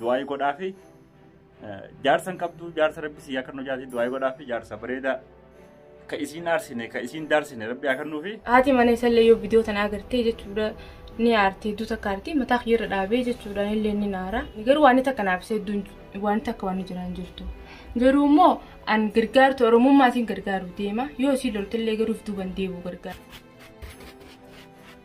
Du'aayii godhaa fi jaarsa hin qabdu jaarsa rabbi si yaa kennu jaarsi du'aayii godhaa fi jaarsa bareedaa ka isiin aarsine ka isiin daarsine rabbi yaa kennuu fi Haati mana isallee yoo viidiyoo tana agartee jechuudha ni aarti hedduu takka aarti mataa kiyyarra dhaabee jechuudha illee ni naara garuu waan takka naaf isa hedduun waan takka waan jiraan jirtu garuu immoo an gargaartu oromummaatiin gargaaru deema yoo isii loltillee garuuf duuban deebi'u gargaara.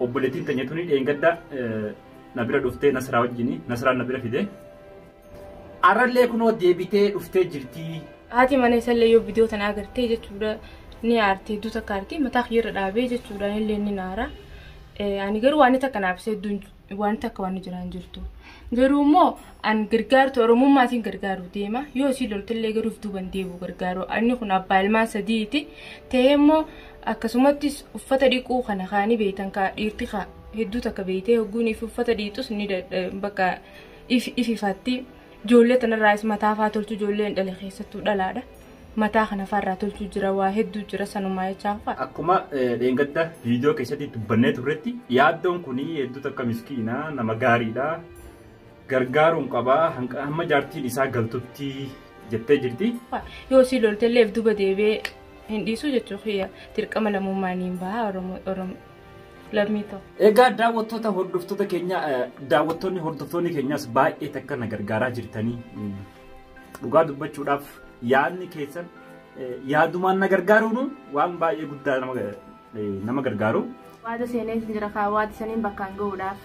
Obboleettiin tanya tuni dheengadda na bira dhuftee Nasraa wajjini Nasraan na bira fide. Arrallee kunoo deebitee dhuftee jirtii. Haati mana isallee yoo bidiyoo tana agartee jechuudha ni aartee hedduu takka aartee mataa kiyyarra dhaabee jechuudha anillee ni naara. Ani garuu waan takka naaf isa hedduun jiru. wanti akka waan jiraa hin jirtu. Garuu immoo an gargaartu Oromummaatiin gargaaru deema. Yoo si loltillee garuuf duuban deebi'u gargaaru. Anni kun abbaa ilmaan sadiiti. Ta'ee immoo akkasumattis uffata dhiquu kana kaanii beektan kaa dhiirti kaa hedduu takka beektee hogguun ifi uffata dhiitus ni bakka ifi ififatti. Ijoollee tanarraas mataafaa tolchu ijoolleen dhale keessattuu dhalaadha. mataa kana farraa tolchuu jira waa hedduu jira sanumaa jechaa fa'a. Akkuma dheengadda viidiyoo keessatti dubbannee turretti yaaddoon kun hedduu takka miskiina nama gaariidha. Gargaaruun qaba hamma jaartiin isaa galtutti jettee jirti. Yoo si lolte illee duba deebi'ee hin dhiisu jechuu kiyya dirqama lammummaa niin baha Oromoo lammii ta'u. Egaa daawwattoota hordoftoota keenya daawwattoonni hordoftoonni keenyas baay'ee takka na gargaaraa jirtanii Dhugaa dubbachuudhaaf yaadni keessan yaadumaan na gargaaruun waan baay'ee guddaa nama gargaaru. Waada seeneef jira kaa waada saniin bakkaan ga'uudhaaf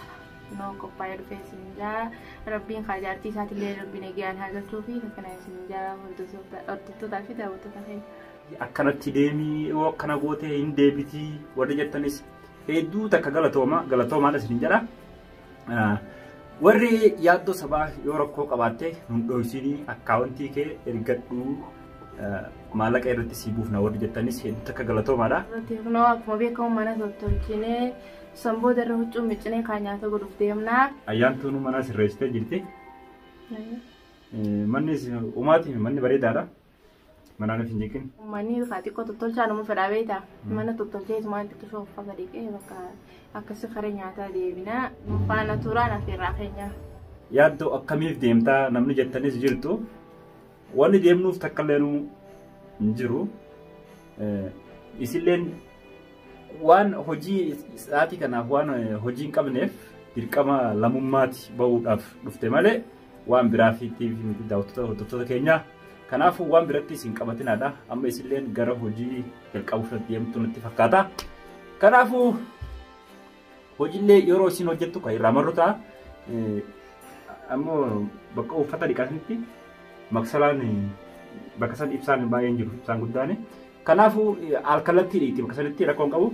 noo qophaa'ee dhufee isin jaa rabbiin kaa jaartii isaati illee rabbiin eegaan haa galchuu fi akkana isin jaa hordoftootaa fi daawwattoota keenya. Akkanatti deemii yoo akkana gootee hin deebitii warri jettanis hedduu takka galatooma galatoomaadha isin jedha. Warri yaaddoo sabaa yoo rakkoo qabaatte nun dhoysinii akkaawuntii kee ergadhuu maallaqa irratti sii buufna warri jettanis hedduu takka galatoomaadha. Kunoo akkuma beekamu mana tottolchinee san booda irra huccuu miccinee kaan nyaata godhuuf deemna. Ayyaantuun mana sirreessitee jirti. Manni umaati manni bareedaadha. Manaan isin jeekin. Manni kaa xiqqoo tottolchaa nama fedhaa beektaa. Mana tottolchee isumaa itti tusoo uffata dhiqee bakka akkasii kara nyaataa deebinaa faana turaan affeerraa keenyaa. Yaaddoo akkamiif deemtaa namni jettanis jirtu. Wanni deemnuuf takka illee nu hin jiru. Eh, Isilleen waan hojii sa'aatii kanaaf waan eh, hojii hin qabneef dirqama lammummaati bahuudhaaf dhufte malee waan biraaf itti miti daawwattoota hordoftoota keenyaa. Kanaafuu waan biratti isin qabatinaadha. Amma isilleen gara hojii jalqabuuf irratti deemtu natti fakkaata. Kanaafuu hojiillee yeroo isin hojjettu kan irraa marru ta'a. Ammoo bakka uffata dhiqatanitti maksalaan bakka san ibsaan baay'een jiru ibsaan guddaan. Kanaafuu alkallattii dhiitti bakka sanitti rakkoon qabu.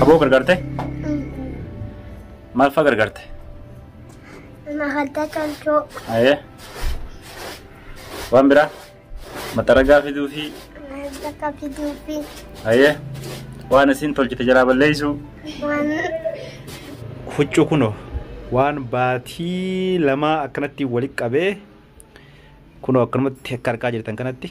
Haboo gargaarte? Maal fa'aa gargaarte? Mahalta calcoo. Ayee. Waan biraa? Maxxaragaa fiduu fi Mahalta fiduu fi ayee. Waan isin tolchite jalaa balleessu. waan Huccuu kunoo waan baatii lamaa akkanatti walitti qabee kunoo akkanumatti akka argaa jirtan kanatti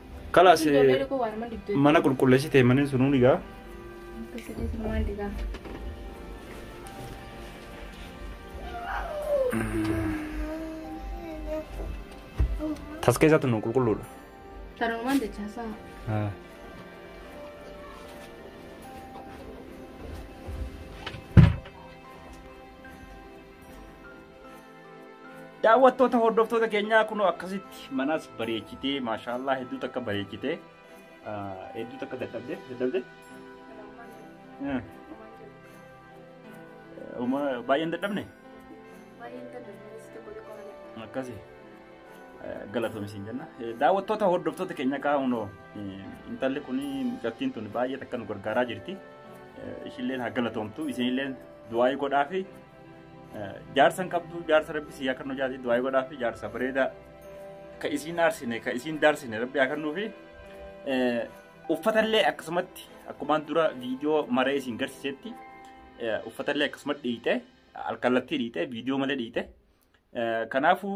Kalaas mana qulqulleessitee manni sunuu dhigaa. Tas keessatti nu qulqulluudha. Tarumaan jecha isaa. Daawwattoota hordoftoota keenyaa kunoo akkasitti manas bareechitee maashaallah hedduu takka bareechitee hedduu takka dadhabde dadhabde. Uma baay'een dadhabne akkasi galatoomi siin jenna. Daawwattoota hordoftoota keenya kaa kunoo intalli kun mucattiin tun baay'ee takka nu gargaaraa jirti. Ishilleen haa galatoomtu isinilleen du'aayii godhaa fi Jaarsa hin qabdu jaarsa rabbi si yaa kan hojaati du'aa godhaa fi jaarsa bareedaa ka isiin aarsine ka isiin daarsine rabbi yaa kannuu fi uffatallee akkasumatti akkumaan dura viidiyoo maree isin garsiisetti uffatallee akkasumatti dhiite alkallattii dhiite viidiyoo malee dhiite kanaafuu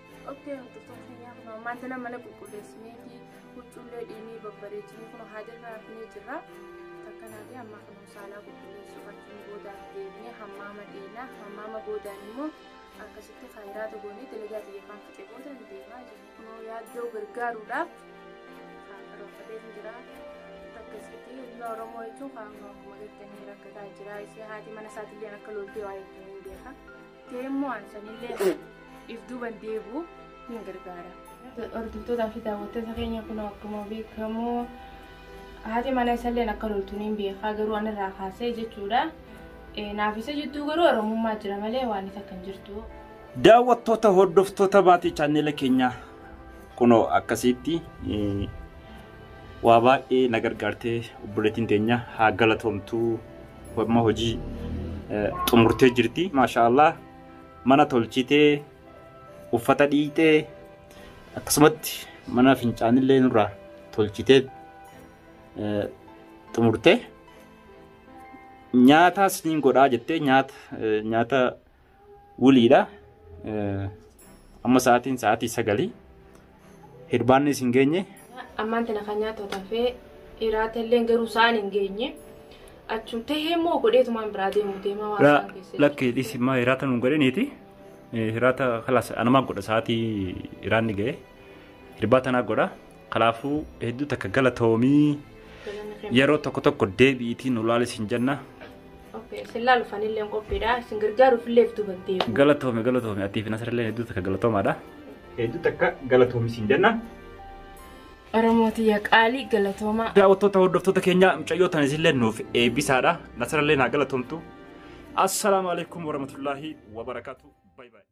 Okkee hordoftoota keenyaa kun ammaan tana mana qulqulleessinee fi huccuullee dhiinii babbareechinee kun haadirraa hafnee jirra. Takkanaa fi ammaa kun saalaa qulqulleessuu fakkiin boodaan deemnee hammaama dhiinaa hammaama boodaan immoo akkasitti kaayiraa togoonee dalagaa biyya afaan fixee boodaan deemaa jiru. Kunoo yaaddoo gargaaruudhaaf kan karoorfatee hin jira. Akkasitti ilmi Oromoo jechuun kan akkuma jettanii rakkataa jira. Ishee haati mana isaatiillee akka loltee waa jettanii hin beekaa. Ta'e immoo aansanillee if duuban deebi'u hin gargaara. Hordoftoota fi daawwattoota keenya kun akkuma beekamu haati mana isalleen akka loltu niin beekaa garuu anirraa kaasee jechuudha. Naaf isa jidduu garuu oromummaa jira malee waan isa kan jirtu. Daawwattoota hordoftoota maatii chaanneela keenyaa kunoo akkasitti Waa baay'ee na gargaartee obboleettiin teenya haa galatoomtuu amma hojii eh, xumurtee jirti maashaa Allah mana tolchitee uffata dhiitee akkasumatti mana fincaanillee nurraa tolchitee eh, xumurtee nyaataa siniin godhaa jettee nyaata eh, nyaata Wuliidha. Amma sa'aatiin sa'aatii sagalii. Hirbaannis hin geenye. Ammaan tana kan nyaatu tafee iraata illee garuu sa'aan hin geenye. Achum tahee immoo godheetumaan biraa deemu deemaa waan Raa- isaan keessa Lakki dhisi maa hiraata nuun godhaniiti. Hiraata kalaas anumaan godha sa'aatii iraanni ga'e. Hirbaa tanaa godha. Kalaafuu hedduu takka galatoomii. jiru. yeroo tokko tokko deebi'iitiin ulaalis hin jenna Okay, isin laaluuf anillee qophiidha. Isin gargaaruuf illee fiduu dandeenya. Galatoomi galatoomi atii fi nasirallee hedduu takka galatoomaadha. Hedduu takka galatoomi siin jenna. Oromooti yaa qaalii galatoomaa. Daawwattoota hordoftoota keenya mucayyoo tan isinillee nuuf eebbisaadha. Nasirallee naa galatoomtu. Assalaamu alaikum warahmatullaahi wabarakaatu. Bye bye.